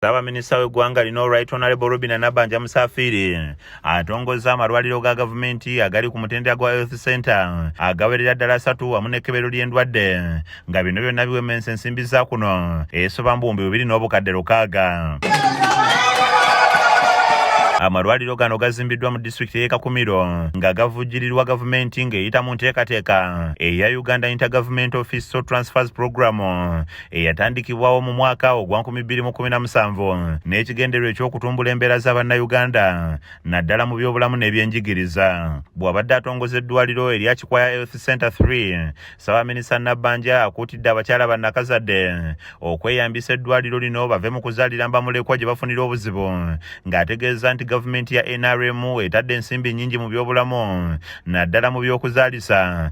Ssaabaminisita w'eggwanga lino Right Honorable Robina Nabanja Musafiiri atongozza amalwaliro ga gavumenti agali ku mutendera gwa Health Center agawerera ddala asatu wamu n'ekkebero ly'endwadde nga bino byonna biwemensa ensimbi za kuno esoba mu buwumbi bubiri n'obukadde lukaaga amalwaliro gano gazimbiddwa mu disitulikiti y'e Kakumiro nga gavujjirirwa gavumenti ng'eyita mu nteekateeka eya Uganda Intergovernment Office Transfers Program eyatandikibwawo mu mwaka ogwa 2017 n'ekigendererwa eky'okutumbula embeera za bannayuganda naddala mu byobulamu n'ebyenjigiriza bw'abadde atongoza eddwaliro erya kikwaya health center 3 ssabaminisa nabbanja akuutidde abakyala bannakazadde okweyambisa eddwaliro lino bave mu kuzaalira mbamulekwa gye bafunira obuzibu ng'ategeeza nti gavumenti ya nrm etadde ensimbi nnyingi mu byobulamu naddala mu by'okuzaalisa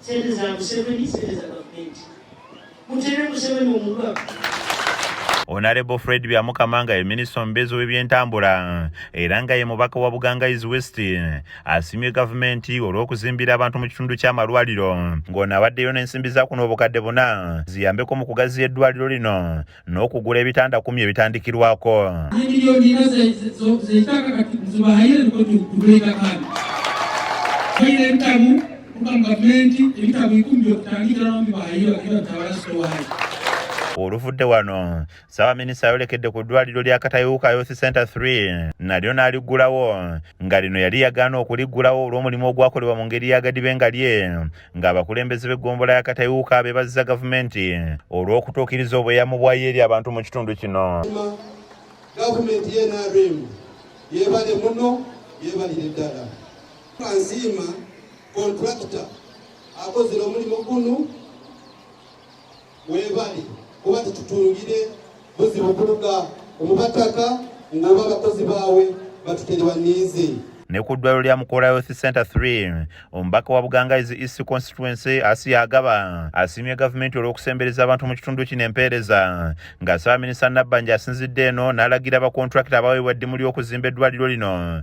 Sente za Museveni, sente za gavumenti. Mutere Museveni omulwa. Honorable Fred Byamukama nga ye minisita omubeezi w'ebyentambula era nga ye mubaka wa Buganga East West asimye gavumenti olw'okuzimbira abantu mu kitundu ky'amalwaliro ng'ono abaddeyo n'ensimbi za kuno obukadde buna ziyambeko mu kugaziya eddwaliro lino n'okugula ebitanda kumi ebitandikirwako oluvudde wano ssaabaminisita ayolekedde ku ddwaliro lya katayuuka youth center 3 nalyo n'aliggulawo nga lino yali yagaana okuliggulawo olw'omulimu ogwakolebwa mu ngeri yagadibe nga lye ng'abakulembeze b'eggombola ya Katayuuka be bazza gavumenti olw'okutuukiriza obweyamo bwayo eri abantu mu kitundu kino. Gavumenti ye NRM yeebale muno yeebalire ddala. Nsiima kontulakita akozera omulimu guno webali kuba tetutungire buzibu kuluga omubataka ng'oba abakozi baawe batuterwa niize ne ku ddwaliro lya mukoola health center 3 omubaka wa bugangaizi east constituency asiya agaba asiimye gavumenti olw'okusembereza abantu mu kitundu kino empeereza ng'asaba minisita nabbanja asinzidde eno n'alagira abakontulakita abaweebwa eddimu ly'okuzimba eddwaliro lino